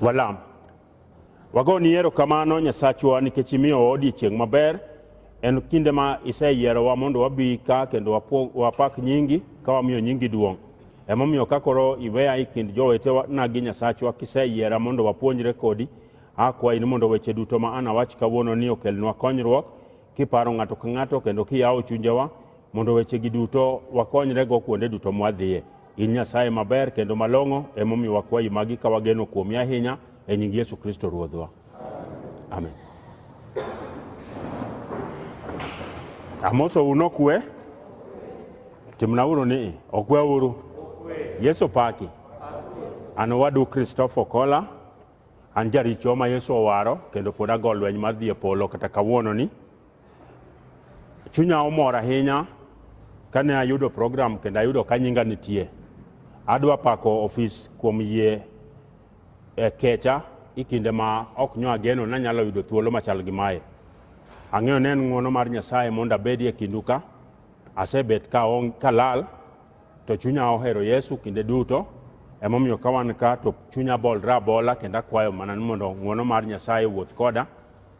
Walam. Wagoni erokamano Nyasachwa nikech imiyowa odiechieng' maber. En kinde ma iseyierowa mondo wabi ka kendo wapo- wapak nyingi ka wamiyo nyingi duong'. Emomiyo ka koro iweya e kind jowetena gi Nyasachwa kiseyiera mondo wapuonjre kodi, akwayi ni mondo weche duto ma anawach kawuono ni okelnwa konyruok kiparo ng'ato ka ng'ato kendo kiyawo chunjewa mondo wechegi duto wakonyrego kuonde duto mwadhiye. In Nyasaye maber kendo malong'o emomiyo wakwayi magi ka wageno kuomi ahinya e nying Yesu Kristo Ruodhwa. Amen. Amoso uno kwe timna uru ni okwe uru Yesu paki an owadu Christopher Kola An jaricho ma Yesu owaro kendo pod ago lweny mar dhi e polo kata kawuononi. Chunya omor ahinya kane ayudo program kendo ayudo ka nyinga nitie. Adwa pako ofis kuom yie e kecha e kinde ma ok nyo ageno nanyalo yudo thuolo machal gi mae. Ang'eyo ni en ng'wono mar Nyasaye mondo abedi e kindu ka. Asebet ka, on, ka lal To chunya ohero Yesu kinde duto, emomiyo ka wan ka to chunya bolre abola kendo akwayo mana ni mondo ng'wono mar Nyasaye owuoth koda.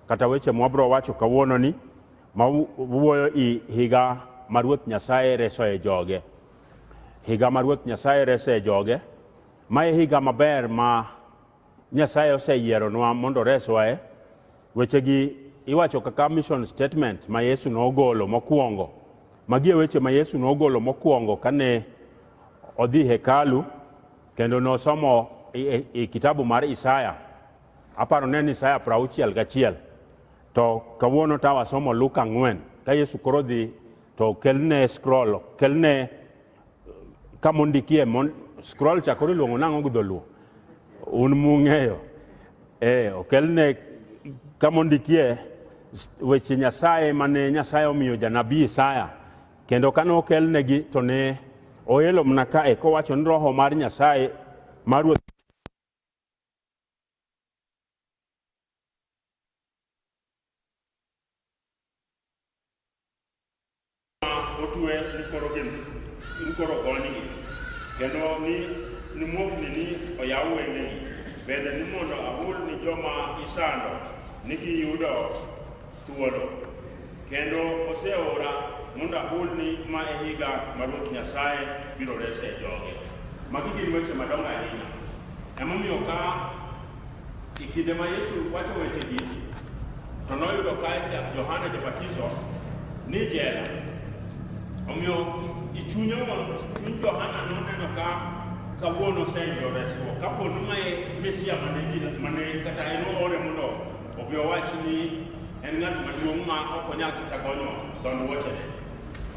Kata weche mwabro wacho kawuononi ma wu- wuoyo i higa ma Ruoth Nyasaye resoe joge. Higa ma Ruoth Nyasaye resoe joge, ma e higa maber ma Nyasaye oseyieronwa mondo oreswa e wechegi iwacho kaka mission statement ma Yesu nogolo mokwongo. Magi e weche ma Yesu nogolo mokwongo kane odhi hekalu kendo nosomo i, i, i kitabu mar Isaya. Aparo ne ni Isaya prauchiel gachiel. To kawuono tawa somo Luka ang'wen. Ka Yesu koro dhi to kelne scroll, kelne kama ondikie mon, scroll cha koro iluongo nang'o gi dholuo un mung'eyo eh, okelne kama ondikie weche nyasaye mane nyasaye omiyo janabi isaya kendo kane okelnegi to ne oelo mana kae kowacho ni roho mar nyasaye mar ruoth otue mukoro gin mukoro goni kendo ni ni muofni ni oyaw wenge bende ni mondo ahul ni joma isando ni giyudo thuolo kendo oseora mondo ahulni ma e higa ma Ruoth Nyasaye biro rese joge. Magi gin weche madongo ahinya. Emomiyo ka e kinde ma Yesu wacho wechegi to noyudo ka Johana Jabatiso ni jela. Omiyo i chunye chuny Johana noneno ka kawuono oseyudo resruok kapo ni mae Mesia mane kata en oore mondo Omiyo wach ni en ng'at maduong' ma ok onyal kata gonyo dhond wuochene.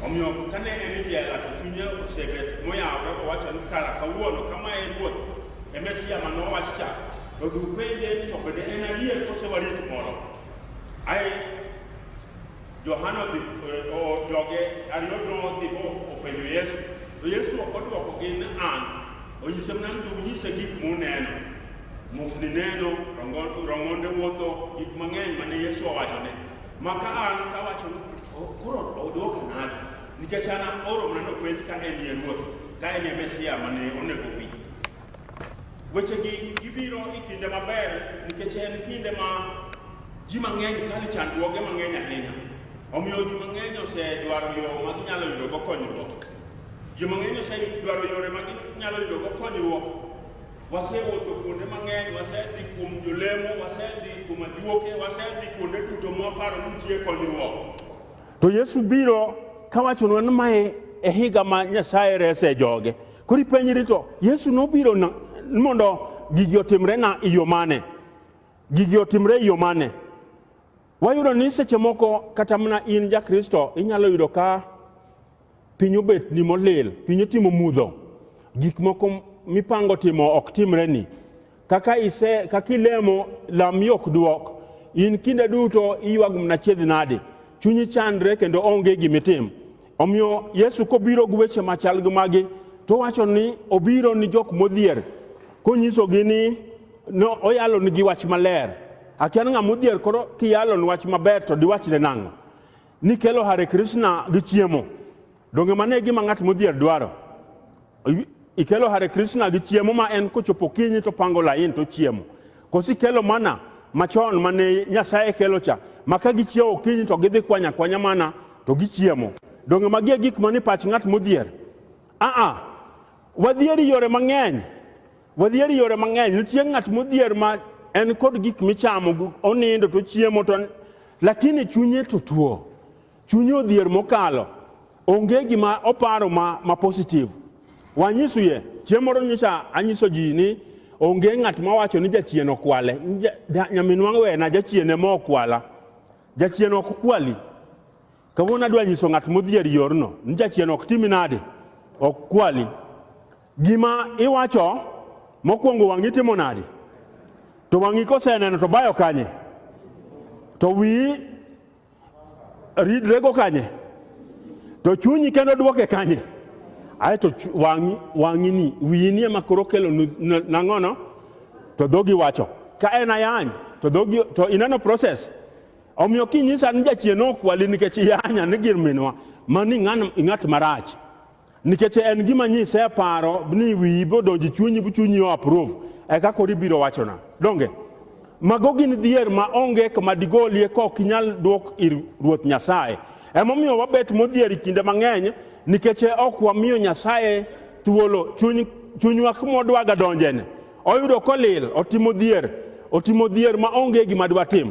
Omiyo kane en e jela to chunye osebet moyawore owacho ni kara kawuono kama e ruoth e Mesia ma nowach cha to dhi upenje ni to bende en adier kose warit moro. Ae Johana odhi o- o- joge ariyo nodhi o- openjo Yesu to Yesu ok odwokogi ni an onyise mana ni to unyise gik muneno. Muofni neno, rong'onde wuotho, gik mang'eny mane Yesu owachone. Maka an kawacho ni oh, koro odwoko nade? Nikech an aoro mana nopenj ka en ye ruoth, ka en ye Mesia mane onego bi. Wechegi gibiro e kinde maber nikech en kinde ma ji mang'eny kalo chandruoge mang'eny ahinya. Omiyo ji mang'eny osedwaro yo ma ginyalo yudogo konyruok. Ji mang'eny osedwaro yore ma ginyalo yudogo konyruok Wasewuotho kuonde mang'eny, wasedhi kuom jolemo, wasedhi kuom ajuoke, wasedhi kuonde duto mwaparo ni nitie konyruok. To Yesu biro kawachonwa ni mae e higa ma Nyasaye rese joge. Koro ipenjri to Yesu nobiro na- mondo gigi otimre na iyo mane? Gigi otimre iyo mane? Wayudo ni seche moko kata mana in ja Kristo inyalo yudo ka Piny obet ni molil, piny otimo mudho, gik moko mipango timo ok timre ni. Kaka ise, kaka ilemo, lam yok duok. In kinde duto iywago mana chiedhi nade. Chunyi chandre kendo onge gimitim. Omiyo Yesu kobiro gi weche machal gi magi, to wacho ni obiro ni jok modhier, konyisogi ni no, oyalo nigi wach maler. Akian ng'ama odhier koro kiyalo ni wach maber to diwachne nang'o? Ni kelo Hare Krishna gi chiemo. Donge mane gima ng'at modhier dwaro? Ikelo Hare Krishna gi chiemo ma en kochopo kinyi to pango lain to chiemo. Kosi kelo mana machon mane Nyasaye kelo cha ma ka gichiewo kinyi to gidhi kwanya kwanya mana to gichiemo. Donge magi e gik mani pach ng'at modhier? Aa, wadhieri yore mang'eny. Wadhier yore mang'eny, nitie ng'at modhier ma en kod gik michamo, onindo to chiemo to lakini chunye to tuo. Chunye odhier mokalo. Onge gima oparo ma, ma positive. Wanyisu ye, chieng' moro nyocha anyiso ji ni onge ng'at mawacho ni jachien okwale. Nyaminwa wena jachien ema okwala. Jachien ok kwali. Kawuono adwa nyiso ng'at modhier yorno ni jachien ok timi nade, ok kwali. Gima iwacho mokwongo wang'i timo nade? To wang'i koseneno to bayo kanye? To wiyi ridrego kanye? To chunyi kendo dwoke kanye? Ae to wang'i wang'i ni wiyi ni ema koro kelo nang'ono to dhogi wacho ka en ayany to dhogi to ineno process Omiyo kinyisa ni jachien okwali nikech yanya ni gir minwa mani ng'at marach nikech en gima nyise paro ni wiyi bodonji chunyi bu chunyi o approve eka kori biro wachona donge mago gin dhier ma onge kama digolie ka ok inyal dwok ir ruoth nyasaye emomiyo wabet modhier kinde mang'eny nikech ok wamiyo nyasaye thuolo chunywa kumodwaga donjene oyudo kolil otimo dhier otimo dhier ma onge gima dwatim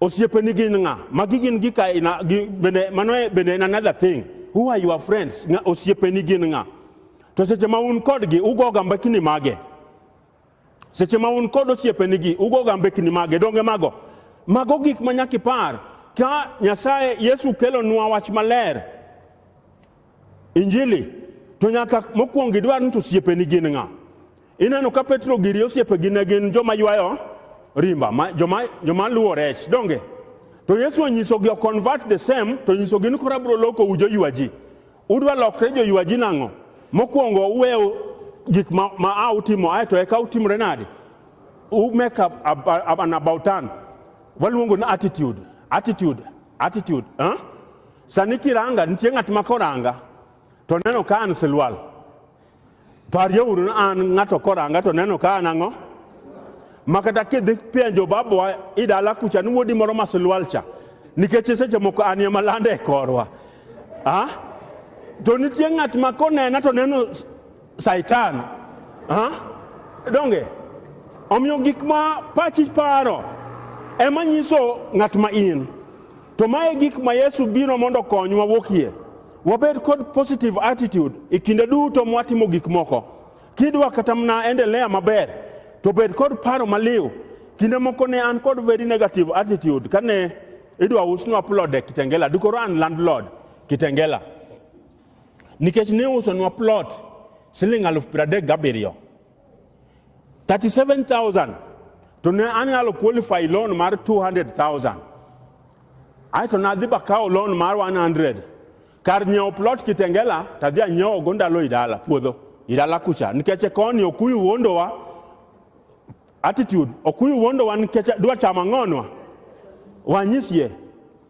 osiepeni gin ng'a magi gin gika ina, gi, bende mano e- bende en another thing who are your friends ng'a osiepeni gin ng'a to seche ma un kodgi ugoga mbekni mage seche ma un kod osiepenigi ugoga mbekni mage donge mago mago gik ma nyaka ipar ka nyasaye yesu kelonwa wach maler Injili to nyaka mokwongo idwar ni to osiepeni gin ng'a. Ineno ka Petro giri osiepegi ne gin joma ywayo rimba, ma, joma, joma luwo rech, donge? To Yesu onyisogi convert the same, to onyisogi ni koro abiro loko u joywa ji. Udwa lokre joywa ji nang'o? Mokwongo uwew gik ma, ma a utimo, aeto eka utimre nade? U make up, up, up, an about turn. Waluongo ni attitude, attitude, attitude. Huh? Sani kiranga nitie ng'at ma koranga to neno ka an silwal. Parjo uru ni an ng'ato koranga to neno ka an ang'o? Ma kata kidhi penjo babwa i dala kucha ni wuodi moro ma silwal cha nikech seche moko an ema lande e korwa. Ah? To nitie ng'at ma konena to neno Saitan. Ha? Donge? Omiyo gik ma pachi paro ema nyiso ng'at ma in. To mae gik ma Yesu biro mondo konywa wuokie. Wabed kod positive attitude e kinde duto mwatimo gik moko. Kidwa kata mna endelea maber to bed kod paro maliw. Kinde moko ne an kod very negative attitude kane idwa usnwa plot e Kitengela. Dukoro an landlord Kitengela. nikech ne usonwa plot siling aluf piero adek gabiriyo 37000 to ne anyalo qualify loan mar 200000 aeto nadhi bakawo loan mar 100 kar nyiewo plot kitengela tadhi anyiewogo ndalo idala puodho idala kucha nikech e koni okuyu wuondowa attitude okuyu wuondowa nikech dwa chamo ang'onwa wanyisie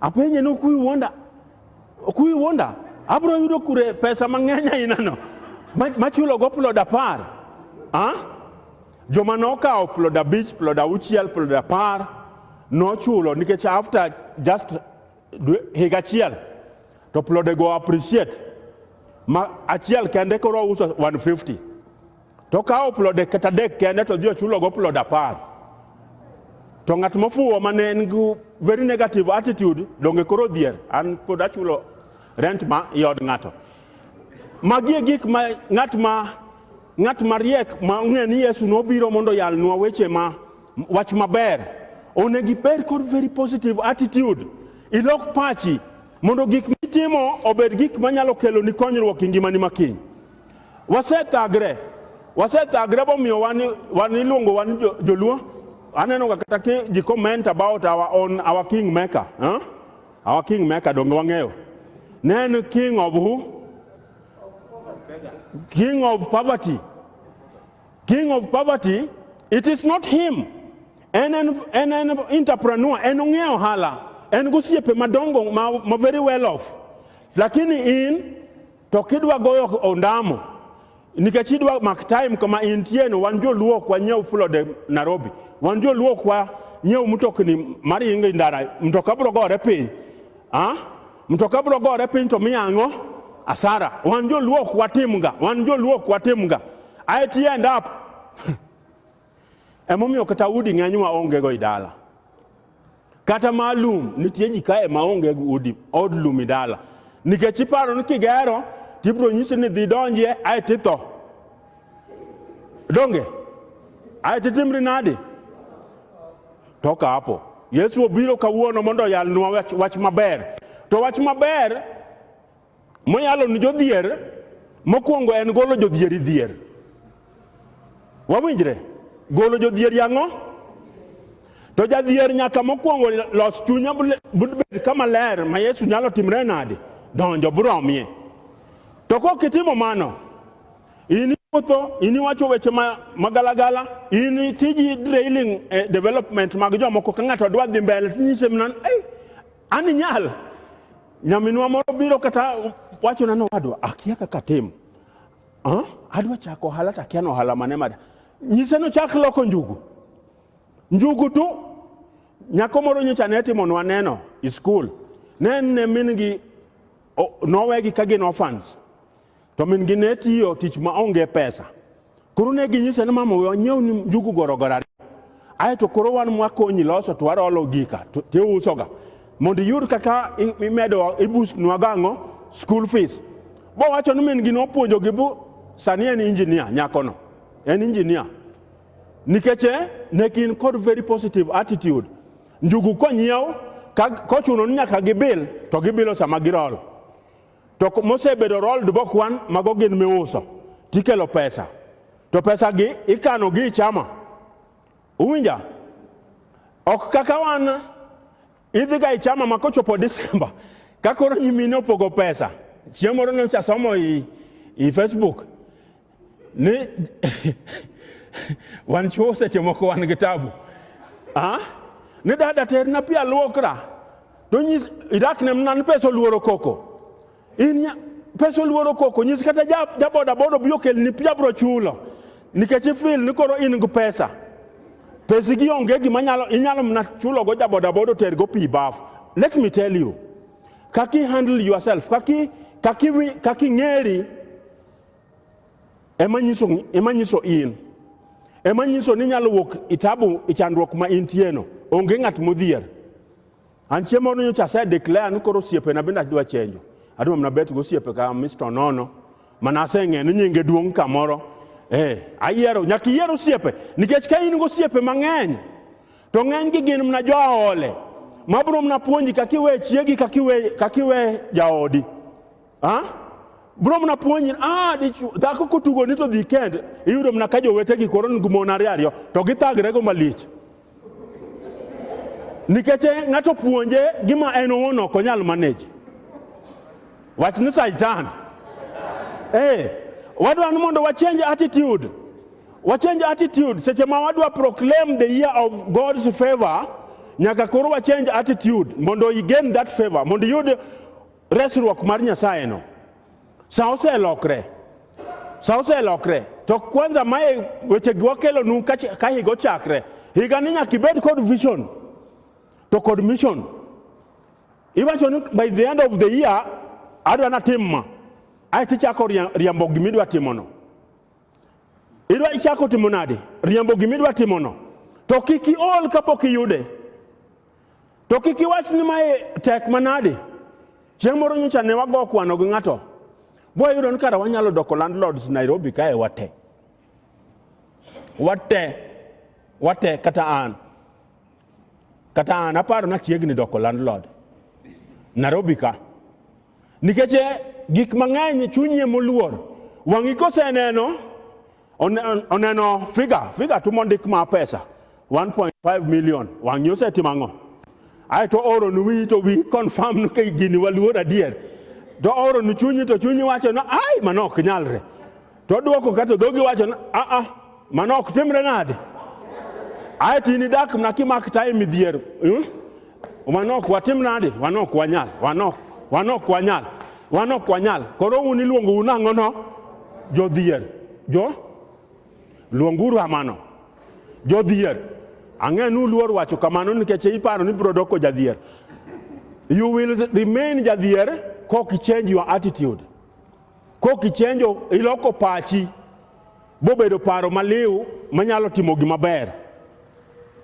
Apenje ni okuyi wuonda, okuyi wuonda, abiro yudo kure pesa mang'eny ainano machulo go plod apar ah? joma nokawo plod abich plod auchiel plod apar nochulo nikech after just higa achiel to plodego appreciate ma achiel kende koro uso 150 to kawo plode kata dek kende to dhi ochulogo plod apar to ng'at mofuwo ma ne en gi very negative attitude donge koro dhier an pod achulo rent ma i od ng'ato magi e gik ma ng'at ma ng'at mariek ma ong'e ni yesu nobiro mondo yalnwa weche ma wach maber onego ibed kod very positive attitude ilok pachi mondo gik mitimo obed gik manyalo keloni konyruok e ngimani makiny Wasetagre, wasetagre bomiyo wan wan iluongo wan jo- joluo. Aneno ga kata ki ji comment about our own our king maker, huh? Our king maker donge wang'eyo. Ne en king of who? King of poverty. King of poverty, it is not him. En en en en entrepreneur, en ong'eyo ohala, en gosiepe madongo ma, ma very well off. Lakini in To kidwa goyo ondamo nikech idwa mak time kama intie no, wan joluo kwa nyiew plode Nairobi, wan joluo kwa nyiew mtokni mar ingo ndara, mtoka bro gore piny ah, mtoka bro gore piny to miya ang'o? Asara. Wan joluo kwa timga, wan joluo kwa timga. I end up Emomiyo kata udi ng'eny ma onge go idala. Kata ma lum nitie ji kae ma onge go udi od lum idala. Nikech iparo ni kigero tibro nyisi ni dhi donjie ae titho. Donge? Ae titimri nadi? To kapo. Yesu obiro kawuono mondo oyalnwa wach, wach maber. To wach maber Moyalo ni jodhier, mokwongo en golo jodhieri dhier. Wawinjre? Golo jodhieri ang'o? To jadhier nyaka mokwongo los chunye bed kama ler ma Yesu nyalo timre nade? Donjo buromie. To kok itimo mano, in iwuotho, in iwacho weche ma, ma galagala, in itiji drailing eh, development mag jomoko ka ng'ato dwa dhi mbele tinyise mnan, hey, An inyal nyaminwa moro biro kata wachona ni owadwa akia kaka tim ah, adwa chako ohala to akia ni ohala mane mada nyise ni ochak loko njugu njugu tu nyako moro nyocha ne timonwa neno i skul ne en ne min gi o- nowegi ka gin orphans to min-gi ne tiyo tich ma onge pesa. Koro ne ginyise ni mama we wanyiew ni njugu gorogoro ariyo. Ae to koro wan mwakonyi loso to warolo gika to tiusoga. Mondo iyud kaka i- imedo ibusnwa gang'o school fees. Bowacho ni min-gi nopuonjogi bu sani en injinia nyakono. En injinia. Nikech eh, ne gin kod very positive attitude. Njugu konyiew ka- kochuno ni nyaka gibil to gibilo sama girolo. to mosebedo rolled bokwan mago gin miuso tikelo pesa to pesa gi ikano gi chama uwinja ok kaka wan idhi ga ichama ma kochopo Disemba ka koro nyimine opogo pesa chieng' moro nyocha somo i, i Facebook ni wan chuo seche moko wan gi tabu ah? ni dada terna pi alwokra to nyis idak ne mna ni pesa oluoro koko in nya- pesa oluoro koko nyis kata ja- jabodaboda obi okelni pi abro chulo nikech ifil ni koro in gi pesa pesi gi onge gima nyalo inyalo mna chulogo jabodaboda otergo pi bafu let me tell you kaki handle yourself kaki kaki wi- kaki ng'eri ema nyiso, ema nyiso in ema nyiso ni nyalo wuok itabu ichandruok ma intieno onge ng'at modhier an chiemo ni nyocha ase declare ni koro osiepena bende adwa chenjo adwa mana bet go osiepe ka Mr. Nono mana aseng'e ni nyinge duong' kamoro eh ayiero nyaka iyier osiepe nikech ka in go osiepe mang'eny to ng'eny gi gin mana joaole mabiro mana puonji kaka iwe chiegi kaka iwe kaka iwe jaodi Ah? Bro mna puonji ah dichu dhako kotugo ni to dhi kend iyudo mna ka jowete gi koro ngu mon ariyo ariyo to githagre go malich. Nikech ng'ato puonje gima en owuon ok onyal manage. Wach ni Satan. Eh, wadwa ni mondo wa change attitude. Wa change attitude seche ma wadwa proclaim the year of God's favor nyaka koro wa change attitude mondo i gain that favor mondo iyud resruok mar Nyasayeno. Sa oselokre, sa oselokre. To kwanza mae weche gi wakelonu ka ch- ka higa ochakre. Higa ni nyaka ibed kod vision to kod mission. Iwacho ni by the end of the year adwa natim ma. Ae tichako ria- riambo gima idwa timono. Idwa ichako timo nade? Riambo gima idwa timono. To kik iol kapok iyude. To kik iwach ni mae tek manade. Chieng' moro nyocha ne wago kwano gi ng'ato. Boyudo ni kara wanyalo doko landlords Nairobi kae wate. Wate. Wate kata an. Kata an aparo na chiegni doko landlord. Nairobi ka. Nikech gik mang'eny chunyi emoluor. Wang'i koseneno oneno figa figa tumo ndik ma pesa 1.5 million wang'ni osetimo ang'o ae to oronu wiyi to wi confirm ni kai gini waluor adier to oronu chunyi to chunyi wacho no ai mano ok nyalre to dwoko kato dhogi wacho no a a mano ok timre nade ae to in idak mna kimak time midhier hmm? Wanok watim nadi? Wanok wanyal. Wanok. Wanok wanyal. Wanok wanyal. Koro un iluongo un ang'o no? Jodhier. Jo? Luonguru amano. Jodhier. Ang'e nu luor wacho kamano nikech iparo ni biro doko jadhier. You will remain jadhier kok change your attitude. Kok ichenjo iloko pachi bobedo paro maliw manyalo timo gima ber.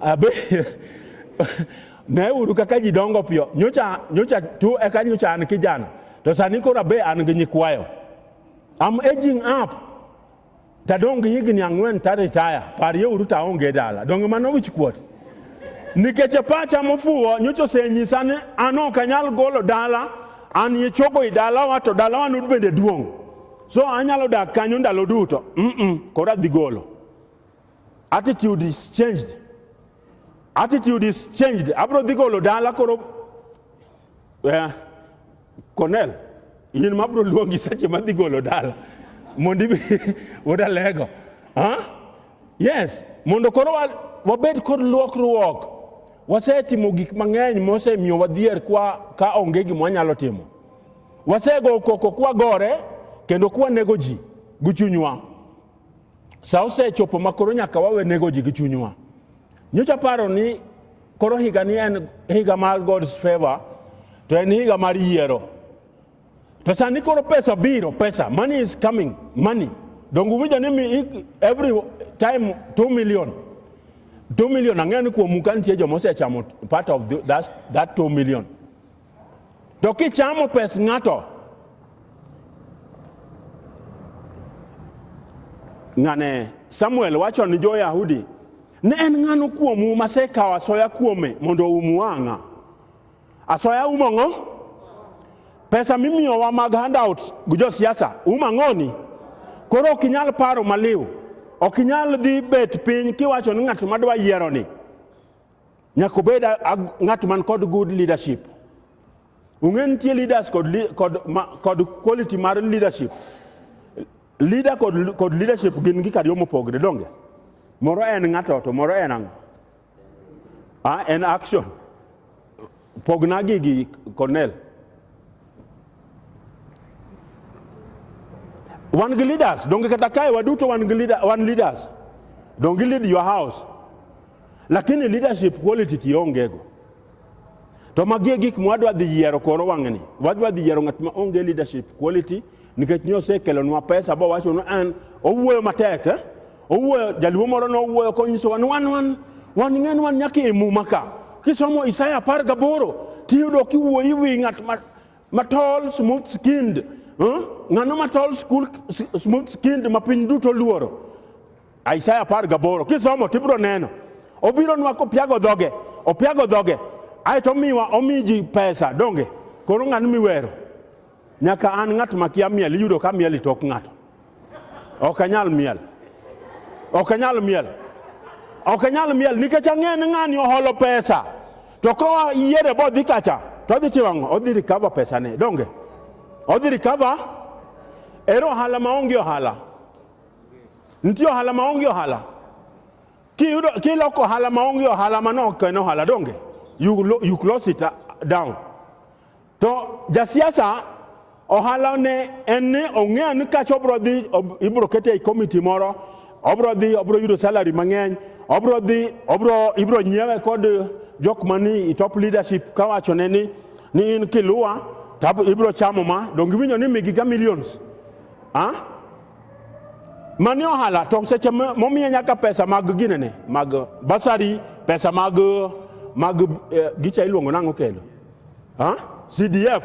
Abe, ne uru kaka ji dongo piyo. Nyocha, nyocha tu eka nyocha an kijana. To sani koro abe an gi nyikwayo. I'm aging up. Tadong' gi higni ang'wen ta retire. Parie uru ta onge dala. Donge mano wich kuot? Nikech e pacha mofuwo nyocha osenyisa ni an ok anyal golo dala, an ye chogo i dalawa to dalawa nud bende duong'. So anyalo dak kanyo ndalo duto. Mm -mm, koro adhi golo. Attitude is changed. Attitude is changed. Abro dhi golo dala koro eh, Cornell, in ma bro luongi seche ma dhi golo dala mondo ibi wuod Alego. Huh? Yes, mondo koro wa- wabed kod luokruok. Wasetimo gik mang'eny mosemiyo wadhier kwa ka onge gima wanyalo timo. Wasego koko kwagore kendo kwanego ji gi chunywa. Sa osechopo ma koro nyaka wawe nego ji gi chunywa. Nyocha paro ni koro higa ni en higa mar God's favor to en higa mar yiero. To sani koro pesa biro, pesa, money is coming, money. Donge uwinjo ni mi- every time 2 million. 2 million ang'eyo ni kuomu ka nitie joma osechamo part of the, that, that 2 million. To kichamo pes ng'ato, ng'ane Samuel wacho ni jo-Yahudi, ne en ng'ano kuomu masekawo asoya kuome mondo oum wang'a? Asoya umo ng'o? Pesa mimiyowa mag handouts gi josiasa um ang'oni? Koro ok inyal paro maliw, ok inyal dhi bet piny kiwacho ni ng'at madwa yieroni Nyaka obed ng'at man kod good leadership. Ung'e nitie leaders kod, kod, kod quality mar leadership. Leader kod, kod leadership gin gik ariyo mopogre donge. Moro en ng'ato to moro en ang'o? Ah, en action. Pogna gigi Cornel. Wan gi leaders, donge kata kae waduto wan gi leader, wan leaders. Don't you lead your house. Lakini leadership quality tiongego. To magie gik mwadwa dhi yiero koro wang'ni. Wadwa dhi yiero ng'at ma onge leadership quality nikech nyosekelonwa pesa bowachonwa an owuoyo matek eh? Owuoyo, jaluo moro nowuoyo konyisowa ni wan wan wan ng'e ni wan nyaka e muma ka. Kisomo Isaya apar gaboro tiyudo kiwuoyi wi ng'at ma, ma tall smooth skinned huh? ng'ano ma tall school, s- smooth skinned ma piny duto luoro Isaya apar gaboro kisomo tibiro neno obiro nwa kopiago dhoge opiago dhoge aeto omiwa omi ji pesa donge koro ng'ano miwero Nyaka an ng'at makia miel iyudo ka miel itok ng'ato. Ok anyal miel. Ok anyal miel. Ok anyal miel nikech ang'eyo ni ng'ani oholo pesa. To koa yiere bo dhi kacha to odhi timo ang'o? Odhi recover pesane. Donge? Odhi recover ero ohala maonge ohala. Nitie ohala maonge ohala. Kiyudo kiloko ohala maonge ohala mano ok en ohala donge? You, lo- you close it uh, down. To jasiasa ohala ne en ni ong'eyo ni kacha obro dhi ibro kete e komiti moro obro dhi obro yudo salary mang'eny obro dhi obro ibro nyiewe kod jok mani i top leadership kawachone ni ni in kiluwa tab ibro chamo ma donge iwinjo ni migi ga millions ah? mani ohala to seche momiye nyaka pesa mag ginene mag basari pesa mag mag eh, gicha iluongo nang'o kendo Ha? CDF.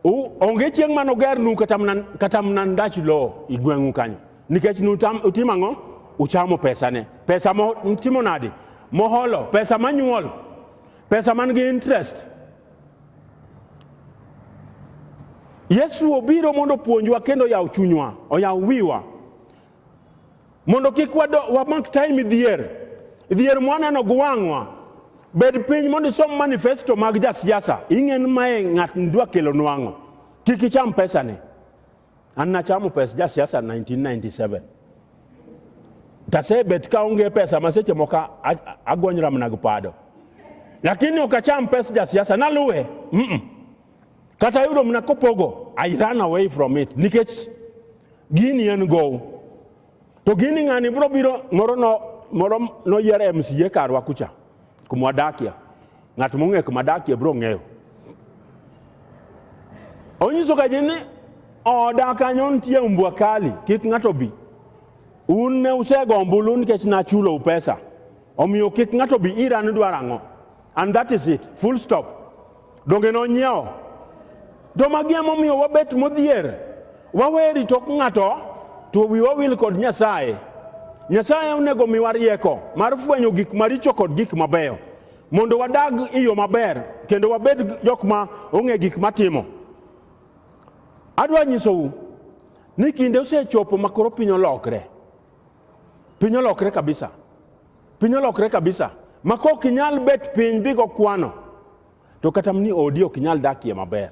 U, onge chieng' mano gernu kata mna- kata mna ndach lowo i gweng'u kanyo nikech nutam- utimo ang'o uchamo pesane pesa mo- mtimo nadi moholo pesa manyuol pesa man gi interest yesu obiro mondo opuonjwa kendo oyaw chunywa oyaw wiwa mondo kik wamak time dhier dhier mwaneno gi wang'wa bed piny mondo isom manifesto mag jasiasa ing'en mae ng'at ndwa kelo nwang'o kik icham pesane an nachamo pes jasiasa 1997 tasebet ka onge pesa ma seche moko agonyra mana gi pado lakini ok acham pes jasiasa naluwe mm -mm. Kata yudo mna kopogo, I run away from it. Nikech gini en gow. To gini ng'ani bro biro moro no moro noyier e MCA karwa kucha kuma wadakie. Ng'at mong'e kuma dakie bro ng'eyo. Onyiso ka ji ni oda kanyo nitie mbwa kali, kik ng'ato bi. Un ne usego ombulu nikech nachulou pesa. Omiyo kik ng'ato bi ira ni dwaro ang'o. And that is it. Full stop. Donge nonyiewo? To magi emomiyo wabet modhier. Wawe rito ng'ato to wiwa wil kod Nyasaye. Nyasaye onego miwa rieko mar fwenyo gik maricho kod gik mabeyo mondo wadag e yo maber kendo wabed jok ma ong'e gik matimo. Adwa nyisou ni kinde osechopo makoro piny olokre. Piny olokre kabisa. Piny olokre kabisa. Ma kok inyal bet piny bigo kwano. To kata ni odi ok inyal dakie maber.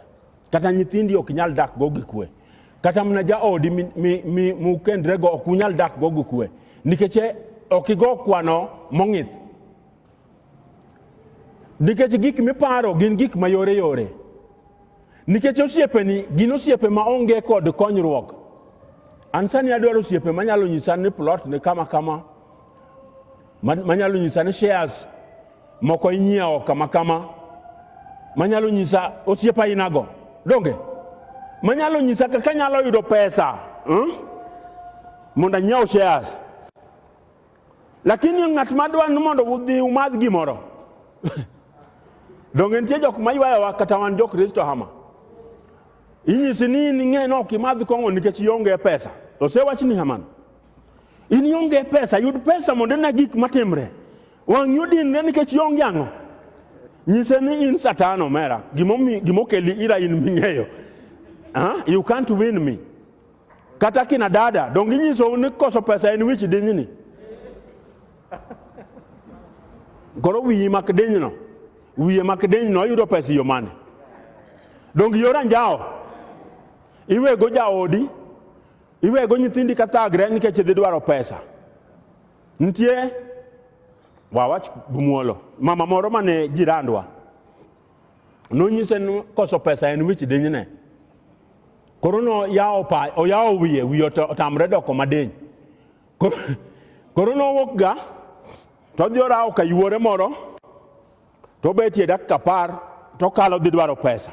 Kata nyithindi ok inyal dak go gi kwe. Kata mana jaodi mukendre go ok unyal dak go gi kwe. Nikech e, ok igo kwano mong'ith. Nikech gik miparo gin gik ma yore yore. Nikech osiepeni gin osiepe ma onge kod konyruok. An sani adwaro osiepe manyalo nyisa ni plot ni kama kama, manyalo nyisa ni shares moko inyiewo kama kama, manyalo nyisa osiep ainago, donge? Manyalo nyisa kaka anyalo yudo pesa hmm? mondo anyiew shares. Lakini ng'at ma dwa ni mondo udhi umadh gimoro, donge nitie jok ma ywayowa kata wan jokristo hama? Inyisi ni in ing'e ni ok imadh kong'o nikech ionge pesa. Osewachni hamano. In ionge pesa, yud pesa mondo ine gik matimre. Wang'i odinre nikech ionge ang'o? Nyise ni in satan omera, gimomi- gimokeli ira in ming'eyo. Ah, you can't win me. kata kina dada donge inyisou ni koso pesa en wich dinyni koro wiyi mak dinyno wiye mak dinyno oyudo pesa yo mane donge yor anjawo iwego jaodi iwego nyithindi ka thagre nikech idhi dwaro pesa nitie wawach gumuolo mama moro mane jirandwa nonyise ni koso pesa en wich dinyne koro noyawo pa oyawo wiye wiye otamre doko madiny koro nowuok ga to odhi orawo ka yuore moro to obetie dakika apar to okalo dhi dwaro pesa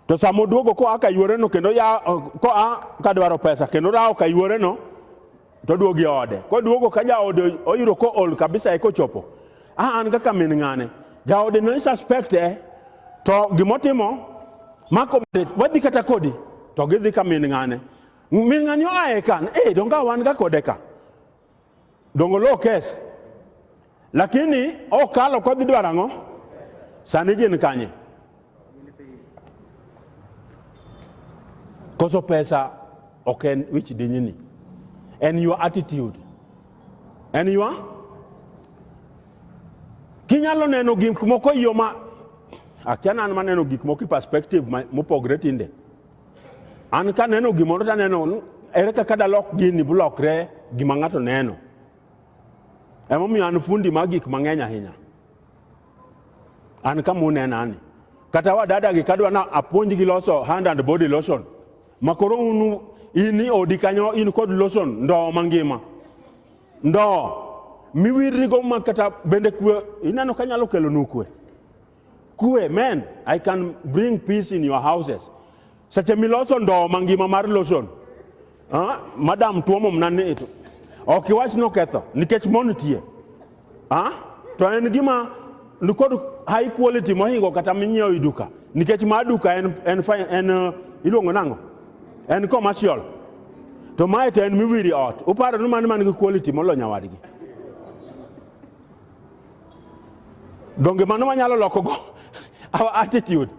to sama oduogo koa ka yuoreno kendo ya koa ka dwaro pesa kendo rawo ka yuoreno to oduogo e ode koduogo ka jaode oyudo ko ol kabisa e kochopo a an kaka min ng'ane jaode ne suspect e to gimotimo mako wadhi kata kodi to gidhi ka min ng'ane min ng'ane oaye kan e donga wan ga kode ka Dongo low case. Lakini okalo kodhi dwaro ang'o? Sani gin kanye? Koso pesa ok en wich dinyini. En your attitude. En your kinyalo neno gik moko e yo ma akia nan maneno gik moko e perspective ma- mopogre tinde An ka neno gimoro to aneno ni ere kaka dalok gini bulokre gima ng'ato neno. Emomiyo an fundi mag gik mang'eny ahinya. An kama unena ni. Kata wadadagi kadwa na apuonj gi loso hand and body lotion. Makoro unu in i odi kanyo in kod lotion ndoo mangima. Ndoo miwirrigo ma kata bende kwe ineno kanyalo kelonu kwe. Kwe, men, I can bring peace in your houses. Seche miloso ndoo mangima mar lotion. Ah, madam tuomo mna ni ito. Ok iwach ni oketho nikech mon nitie. Ah, to en gima nikod high quality mohingo kata minyiewo e duka nikech ma duka en, en, fi- en uh, iluongo nang'o en commercial to mae to en miwiri ot uparo ni mano man gi quality molo nyawadgi Donge mano wanyalo lokogo our attitude?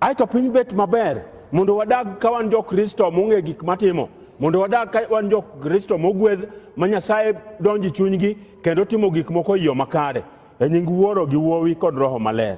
Ae to piny bet maber mondo wadag ka wan jo-Kristo mong'e gik matimo, mondo wadag ka wan jo-Kristo mogwedh ma Nyasaye donji chunygi kendo timo gik moko e yo makare, e nying Wuoro gi Wuowi kod Roho Maler.